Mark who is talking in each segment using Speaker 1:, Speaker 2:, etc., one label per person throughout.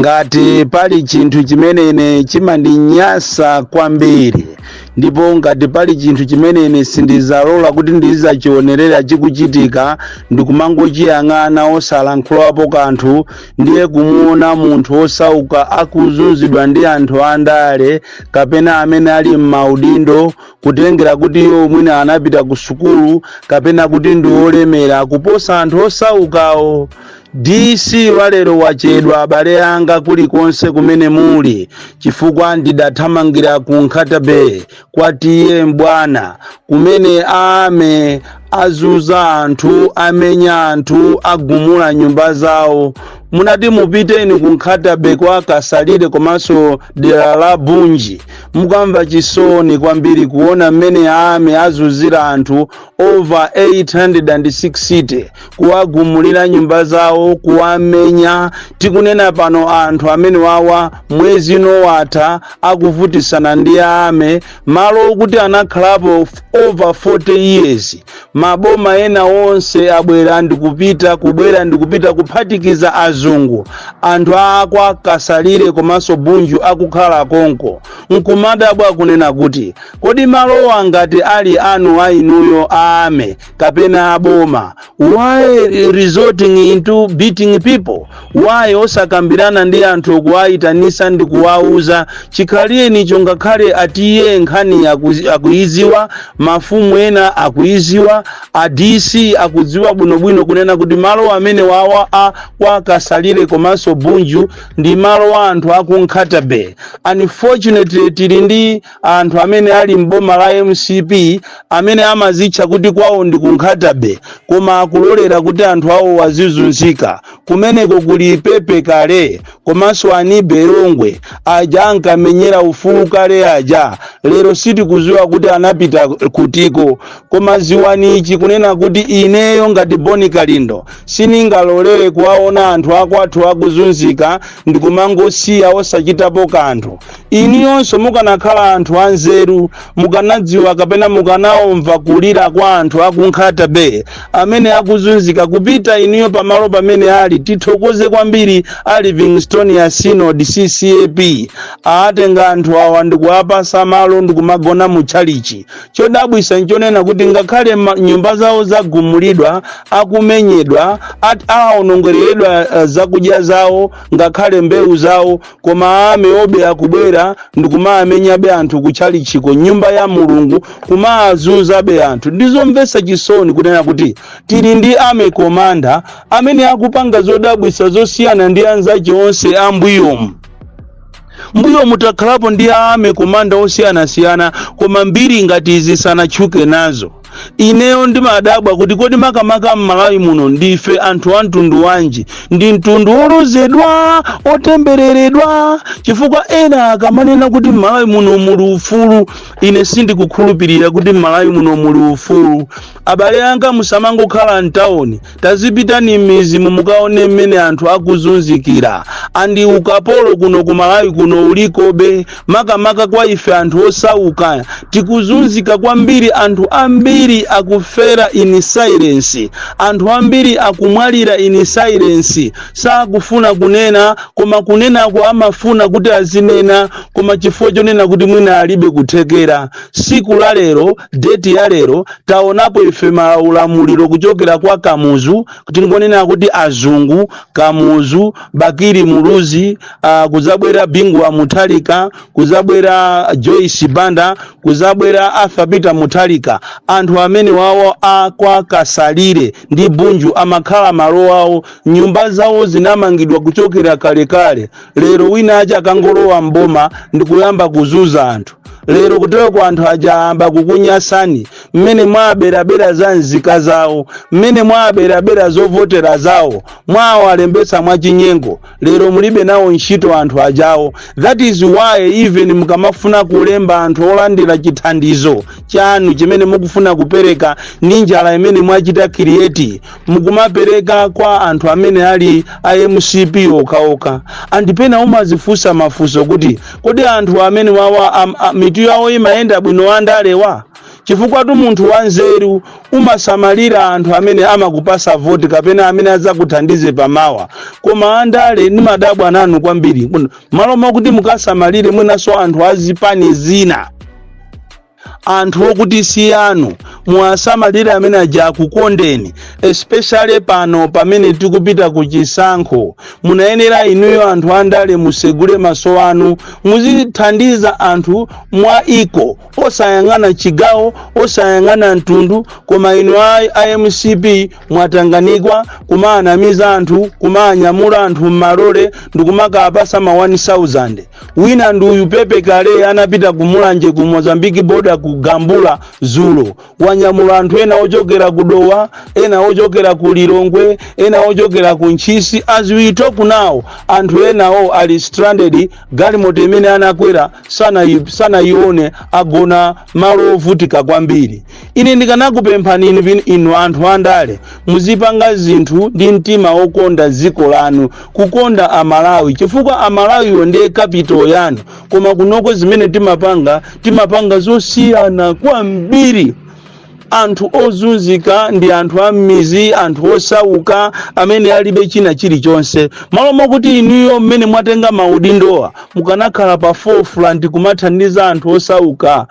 Speaker 1: ngati pali chinthu chimene ine chimandinyasa kwambiri ndipo ngati pali chinthu chimene ine sindizalola kuti ndizachionerera chikuchitika ndikumangochiyang'ana osalankhulapo kanthu ndiye kumuona munthu osauka akuzunzidwa ndi anthu andale kapena amene ali m'maudindo kutengera kuti iwo mwina anapita ku sukulu kapena kuti ndi olemera kuposa anthu osaukawo DC walero wachedwa abale anga kulikonse kumene muli chifukwa ndidathamangira ku Nkhata Bay kwa TA M'bwana kumene a army azunza anthu amenya anthu agumula nyumba zawo munati mupiteni ku Nkhata Bay kwa kasalire komanso dera la Bunji mukamva chisoni kwambiri kuona mmene a army azunzira anthu over 860 kuwagumulira nyumba zawo kuwamenya tikunena pano anthu amene wawa mwezi uno watha akuvutisana ndi a army malo okuti anakhalapo over 40 years maboma ena onse abwera ndikupita kubwera ndikupita kuphatikiza azungu anthu akwa kasalire komanso bunju akukhala konko nkumadabwa kunena kuti kodi malowa ngati ali anu a inuyo a army kapena aboma why resorting into beating people why osakambirana ndi anthu kuwayitanisa ndi kuwauza chikhalirenicho ngakhale a TA nkhani akuzi- akuiziwa mafumu ena akuiziwa a dc akudziwa bwinobwino kunena kuti malo amene wawa a kwa kasalire komanso bunju ndi malo a anthu aku nkhata bay unfortunately tili ndi anthu amene ali m'boma la mcp amene amazitcha kuti kwawo ndi ku nkhata bay koma akulolera kuti anthu awo azizunzika kumeneko kuli pepe kale komanso anibe longwe aja ankamenyera ufulu kale aja lero sitikuziwa kuti anapita kutiko koma ziwani ichi kunena kuti ineyo ngati bon kalindo siningalolere kuwaona anthu akwathu akuzunzika ndikumangosiya osachitapo kanthu inuyonso mukanakhala anthu anzeru mukanadziwa kapena mukanaomva kulira kwa anthu aku nkhata bay amene akuzunzika kupita inuyo pamalo pamene ali tithokoze kwambiri a livingstonia synod ccap aatenga anthu awa ndikuwapasa malo ndikumagona mu tchalichi chodabwisa nchonena kuti ngakhale ma- nyumba zawo zagumulidwa akumenyedwa at- aonongereredwa eh, zakudya zawo ngakhale mbewu zawo koma army-wo be akubwera ndikumamenyabe anthu kutchalichiko nyumba ya mulungu kumazunzabe anthu ndizomvetsa chisoni kunena kuti tili ndi army commander amene akupanga zodabwitsa zosiyana ndi anzache onse ambuyomu mbuyomu takhalapo ndi army commander osiyanasiyana koma mbiri ngati izi sanatchuke nazo ineyo ndimadabwa kuti kodi makamaka m'malawi muno ndife anthu a mtundu wanji ndi mtundu wolozedwa otembereredwa chifukwa ena akamanena kuti m'malawi muno muli ufulu ine sindikukhulupirira kuti m'malawi muno muli ufulu abale anga musamangokhala mtawoni tazipitani m'mizimu mukaone mmene anthu akuzunzikira and ukapolo kuno ku malawi kuno ulikobe makamaka kwa ife anthu osauka tikuzunzika kwambiri anthu ambiri akufera in silence anthu ambiri akumwalira in silence sakufuna kunena koma kunenako amafuna kuti azinena koma chifukwa chonena kuti mwina alibe kuthekera siku la lero deti ya lero taonapo ife maulamuliro kuchokera kwa kamuzu tingonena kuti azungu kamuzu bakili muluzi uh, kuzabwera bingu wa mutharika kuzabwera joyce banda kuzabwera arthur peter mutharika anthu amenewawo akwa kasalire ndi bunju amakhala malo awo nyumba zawo zinamangidwa kuchokera kalekale lero wina wache kangolowa mboma ndikuyamba kuzuza anthu lero kuteroko anthu aja ayamba kukunyasani mmene mwaberabera za nzika zawo mmene mwaberabera zovotera zawo mwawalembetsa mwachinyengo lero mulibe nawo ntchito anthu ajawo that is why even mukamafuna kulemba anthu olandira chithandizo chanu chimene mukufuna kupereka ndi njala imene mwachita create mukumapereka kwa anthu amene ali a mcp okhaokha and pena umazifunsa mafunso kuti kodi anthu amenewawa am, a, mitu yawo imayenda bwino andalewa chifukwatu munthu wanzeru umasamalira anthu amene amakupasa voti kapena amene adzakuthandize pamawa koma andale nimadabwa nanu kwambiri Muno- malo mwakuti mukasamalire mwinanso anthu azipani zina anthu okuti si anu muwasamalire amene aja akukondeni especially pano pamene tikupita ku chisankho munayenera inuyo anthu andale musegule maso anu muzithandiza anthu mwa equal osayang'ana chigawo osayang'ana mtundu koma inu a, a mcp mwatanganikwa kumaanamiza anthu kumaanyamula anthu m'malole ndikumakapasa ma 1000 wina ndi uyu pepe kale anapita ku mulanje ku mozambiki boda ku gambula dzulo wanyamula anthu ena ochokera ku dowa ena ochokera ku lilongwe ena ochokera ku ntchisi as we talk now anthu enawo ali stranded galimoto imene anakwera sanayi- sanayione agona malo ovutika kwambiri ine ndikanakupemphani inu anthu andale muzipanga zinthu ndi mtima wokonda dziko lanu kukonda amalawi chifukwa amalawiwo ndiye kapito yanu koma kunoko zimene timapanga timapanga zosiyana kwambiri anthu ozunzika ndi anthu a m'mizi anthu osauka amene alibe china chilichonse malo mwakuti inuyo mmene mwatenga maudindowa mukanakhala pa forefront kumathandiza anthu osauka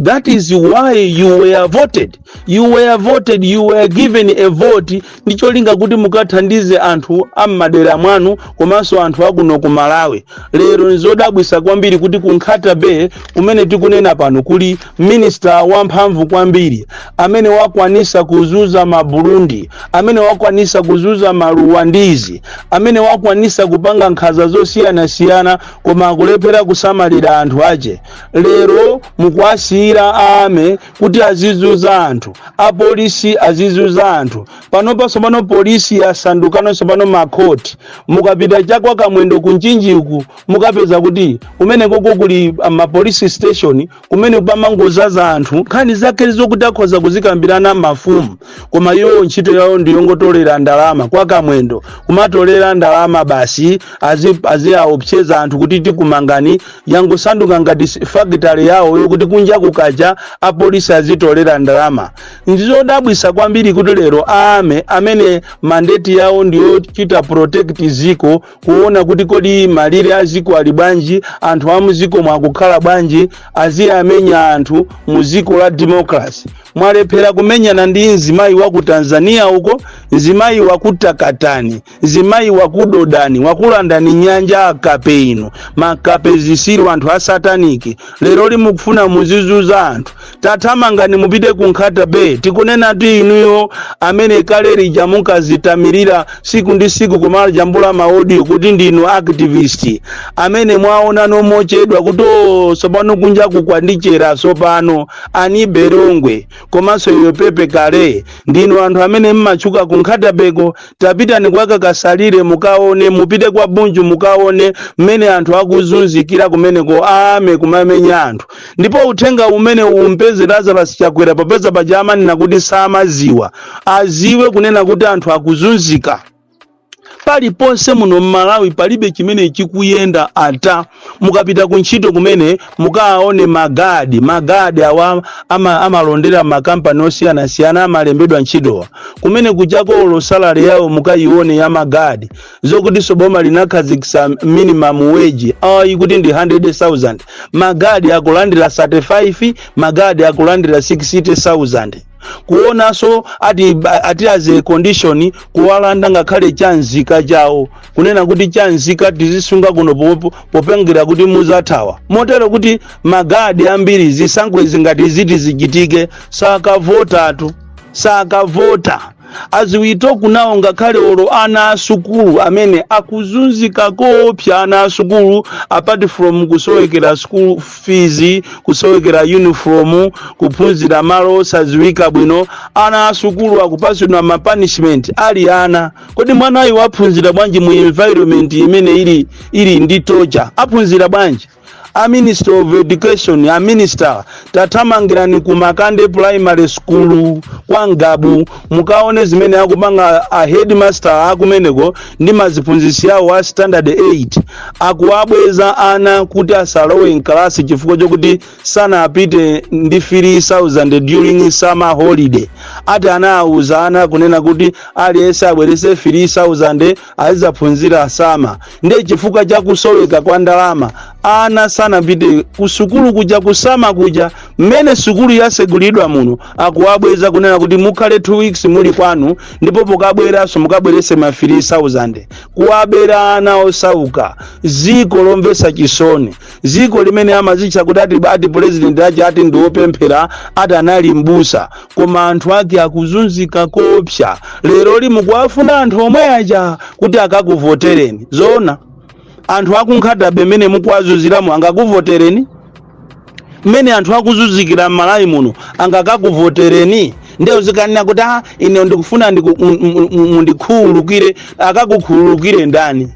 Speaker 1: that is why you were voted you were voted you were given a vote ndi cholinga kuti mukathandize anthu a m'madera mwanu komanso anthu akuno ku malawi lero nzodabwisa kwambiri kuti ku nkhata bay kumene tikunena pano kuli minista wamphamvu kwambiri amene wakwanisa kuzuza maburundi amene wakwanisa kuzuza maruwandizi amene wakwanisa kupanga nkhaza zosiyanasiyana koma akulephera kusamalira anthu ache lero mukuwasiyira aame kuti azizuza anthu apolisi azizuza anthu panopa sopano polisi yasandukano sopano makhoti mukapita chakwa kamwendo kumchinjiku mukapeza kuti kumeneko kuli ah, mapolisi station kumene pamangozaza anthu nkhani zake zokuti akhoza kuzikambirana mafumu koma iwo ntchito yawo ndiyongotolera ndalama kwa kamwendo kumatolera ndalama basi azi- aziaopseza anthu kuti tikumangani yangosanduka ngati fakitale yawo yokuti kunja kukacha apolisi azitolera ndalama ndizodabwisa kwambiri kuti lero aame amene mandeti yawo ndiyochita protect ziko kuona kuti kodi malire a ziko ali bwanji anthu a muziko mwa akukhala bwanji aziyamenya anthu mu ziko la democracy mwalephera kumenyana ndi mzimayi wa ku tanzania uko mzimayi wa ku takatani mzimayi wakudodani wakulandani nyanja akape inu makape zisiru anthu a sataniki lero limukufuna muzizuza anthu tathamangani mupite ku nkhata bay tikunenatu inuyo amene kale lija munkazitamirira siku ndi siku kumajambula maaudio kuti ndinu activist amene mwaona mochedwa kuti sopano kunja kukwandichera sopano ani berongwe komanso iwe pepe kale ndinu anthu amene mmatchuka ku nkhatabeko tapitani kwa kasalire mukaone mupite kwa bunju mukaone mmene anthu akuzunzikira kumeneko ame kumamenya anthu ndipo uthenga umene umpeze lazarus chakwera popeza paja amanena kuti samaziwa aziwe kunena kuti anthu akuzunzika paliponse muno mmalawi palibe chimene chikuyenda ata mukapita ku ntchito kumene mukawaone magadi magadi awa ama, amalondera makampani osiyanasiyana amalembedwa ntchitowa kumene kuchakoko salary yawo mukayione ya magadi zokutinso boma linakhazikitsa minimum wage ayi kuti ndi 100000 magadi akulandira 35 magadi akulandira 60000 kuonanso ati ati as a condition kuwalanda ngakhale cha nzika chawo kunena kuti cha nzika tizisunga kuno po- popengera kuti muzathawa motero kuti magadi ambiri zisankho izi ngati ziti zichitike sakavotatu sakavota as we talk now ngakhale olo ana asukulu amene akuzunzika koopsa ana asukulu apart from kusowekera school fees kusowekera uniform kuphunzira malo osaziwika bwino ana asukulu akupasidwa ma punishment ali ana kodi mwanayu waphunzira bwanji mu environment imene ili ili ndi torture aphunzira bwanji a minister of education a minister tathamangirani ku makande primary school kwa ngabu mukaone zimene akupanga a headmaster akumeneko ndi maziphunzitsi awo a standard 8 akuwabweza ana kuti asalowe mkalasi chifukwa chokuti sanapite ndi 3000 during summer holiday ati anawawuza ana kunena kuti aliyense abwerese 3000 azizaphunzira summer ndiye chifukwa cha kusoweka kwa ndalama ana sanapite kusukulu kuja ku summer kuja mmene sukulu yasegulidwa muno akuwabweza kunena kuti mukhale 2 weeks muli kwanu ndipo pokabweranso mukabwerese ma 3000 kuwabera ana osauka ziko lomvesa chisoni dziko limene amazitcha kuti ati ati pulezidenti aja ati ndi wopemphera ati anali mbusa koma anthu ake akuzunzika koopsa lero limukuwafuna anthu omwe aja kuti akakuvotereni zoona anthu aku nkhata bay mmene mukuwazunziramo angakuvotereni mmene anthu akuzunzikira m'malawi muno angakakuvotereni ndiye uzikanena kuti ah ine ndikufuna ndiku- mu- mu- mu- mundikhululukire akakukhululukire ndani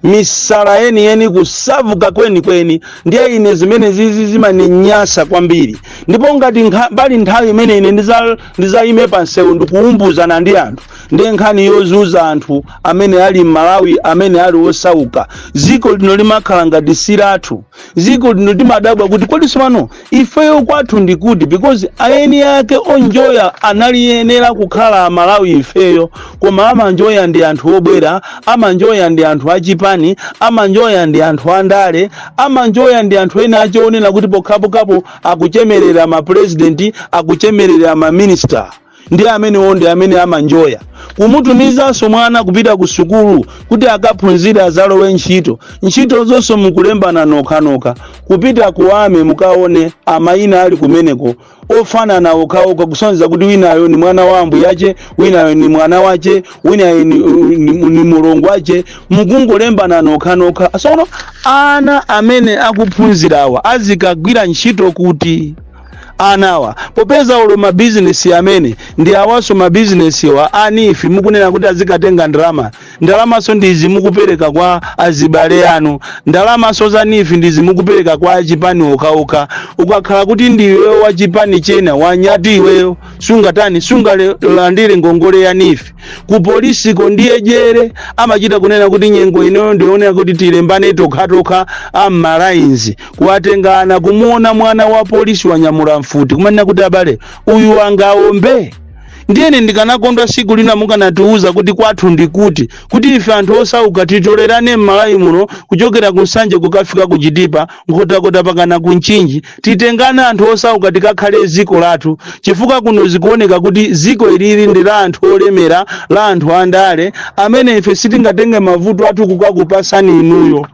Speaker 1: misala yeniyeni kusavuka kwenikweni ndiye ine zimenezizi zimaninyasa kwambiri ndipo ngati nkha- pali nthawi imene ine ndiza- ndizayime pa msewu ndikuumbuzana ndi anthu ndiye nkhani yozunza anthu amene ali m'malawi amene ali osauka dziko lino limakhala ngati si lathu ziko lino timadabwa kuti kodi sopano ifeyo kwathu ndi kuti because ayeni ake onjoya anayenera kukhala amalawi ifeyo koma amanjoya ndi anthu obwera amanjoya ndi anthu achipani amanjoya ndi anthu andale amanjoya ndi anthu ene achionera kuti pokhapokhapo akuchemerera mapurezidenti akuchemerera maminista ndi amenewo ndi amene amanjoya kumutumizanso mwana kupita ku sukulu kuti akaphunzire azalowe ntchito ntchito zonse mukulembana nokhanokha kupita kuwame mukaone amayina ali kumeneko ofanana okhaokha kusonyeza kuti winayo ni mwana wa ambuyache winayo ni mwana wache winayo ni, ni, ni mulongo wache mukungolembana nokhanokha sono ana amene akuphunzirawa azikagwira ntchito kuti anawa popeza olo mabizinesi amene ndi awaso mabizinesiwa a NEEF mukunena kuti azikatenga ndalama ndalamaso ndizi mukupereka kwa azibale anu ndalamaso za NEEF ndizi mukupereka kwa achipani okhaokha ukakhala kuti ndiwe wa chipani chena wanyati iweyo sungatani sungalandire ngongole ya NEEF ku polisiko ndiye dyera amachita kunena kuti nyengo inoyo ndionera kuti tilembane tokhatokha am'malaini kuwatenga ana kumuona mwana wa polisi wanyamula mfuti kumanena kuti abale uyu angaombe ndiyene ndikanakondwa siku lina mukanatiuza kuti kwathu ndi kuti kuti ife anthu osauka titolerane m'malawi muno kuchokera ku nsanje kukafika ku chitipa nkhotakota pakana ku mchinji titengane anthu osauka tikakhale ziko lathu chifukwa kuno zikuoneka kuti ziko ilili ndi la anthu olemera la anthu andale amene ife sitingatenge mavuto athu kukakupasani inuyo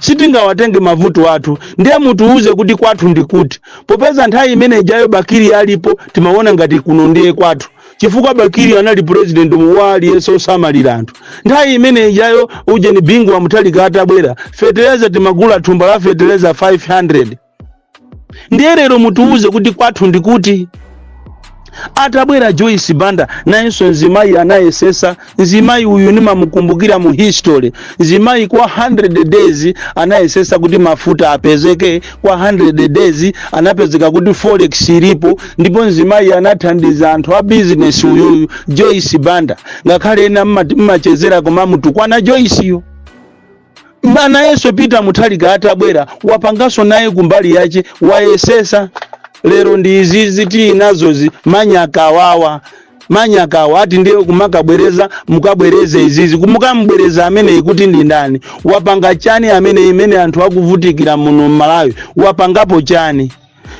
Speaker 1: sitingawatenge mavuto athu ndiye mutiuze kuti kwathu ndi kuti popeza nthawi imene ijayo bakili alipo timaona ngati kuno ndiye kwathu chifukwa bakili anali president wa aliyense osamalira anthu nthawi imene ijayo ujeni bingu wa mutharika atabwera fetereza timagula thumba la fetereza 500 ndiye lero mutiwuze kuti kwathu ndi kuti atabwera joyce banda nayenso nzimayi anayesesa nzimayi uyu nimamukumbukira mu history nzimayi kwa 100 days anayesesa kuti mafuta apezeke kwa 100 days anapezeka kuti forex ilipo ndipo nzimayi anathandiza anthu a business uyuyu joyce banda ngakhale ena mmati- mmachezera komamutukwana joyce yo Ma- nayenso peter mutharika atabwera wapanganso naye kumbali yache wayesesa lero ndi izizi tili nazozi manyakawawa manyakawa ati ndiye kumakabwereza mukabwereze izizi mukamubwereza ameneyi kuti ndi ndani wapanga chani ameneyi mmene anthu akuvutikira muno mmalawi wapangapo chani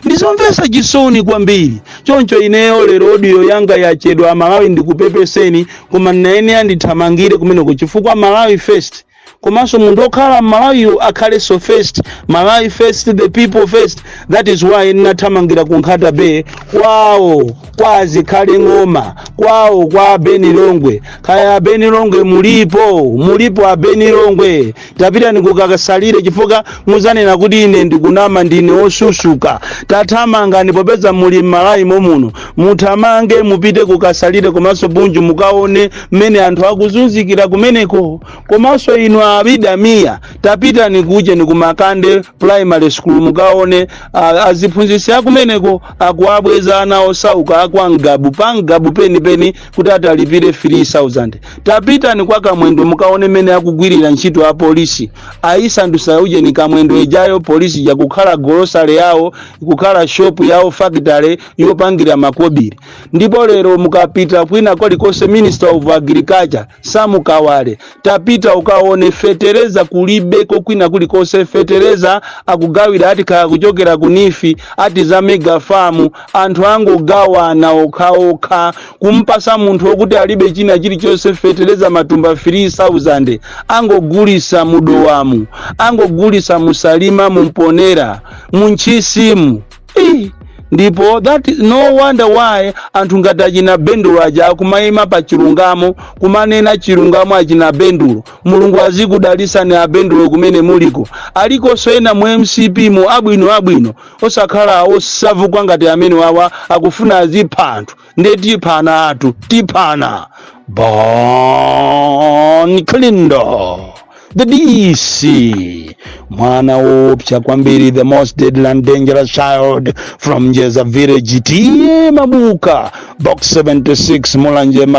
Speaker 1: ndizomvetsa chisoni kwambiri choncho ineyo lero audio yanga yachedwa amalawi ndikupepeseni koma ndinayenera ndithamangire kumeneko chifukwa malawi first komanso munthu okhala mmalawiyo akhalenso first malawi first the people first that is why ndinathamangira ku nkhata bay kwawo kwa azikhale ng'oma kwawo kwa a ben longwe kaya a ben longwe mulipo mulipo a ben longwe tapitani kukakasalire chifukwa muzanena kuti ine ndikunama ndine osusuka tathamangani popeza muli m'malawi momuno muthamange mupite kukasalire komanso bunju mukaone mmene anthu akuzunzikira kumeneko komanso inu abida mia tapitani kujeni kumakande primary school mukaone a- aziphunzitsi akumeneko akuwabweza ana osauka akwa ngabu pa ngabu penipeni kuti ati alipire 3000 tapitani kwa kamwendo mukaone mmene akugwirira ntchito a polisi ayisandusa ujeni kamwendo ijayo polisi yakukhala golosale yawo ikukhala shopu yawo fakitale yopangira makobiri ndipo lero mukapita kwina kolikonse minister of agriculture sam kawale tapita ukaone fetereza kulibeko kwina kulikonse fetereza akugawira ati kaya kuchokera ku neef ati za mega farm anthu angogawana okhaokha kumpasa munthu okuti alibe china chilichonse fetereza matumba 3000 angogulisa mudowamu angogulisa musalima mumponera muntchisimu ndipo that is no wonder why anthu ngati achina bendulo aja akumayima pa chilungamo kumanena chilungamo achina bendulo mulungu azikudalisani abendulo kumene muliko alikonso ena mu mcp mu abwino abwino osakhala osauka ngati amene wawa akufuna azipha anthu nde tiphana atu tiphana bon clindo the dc mwana wopsa kwambiri the most deadly and dangerous child from njeza village tiye mabuka box 76 mulanje Malawi.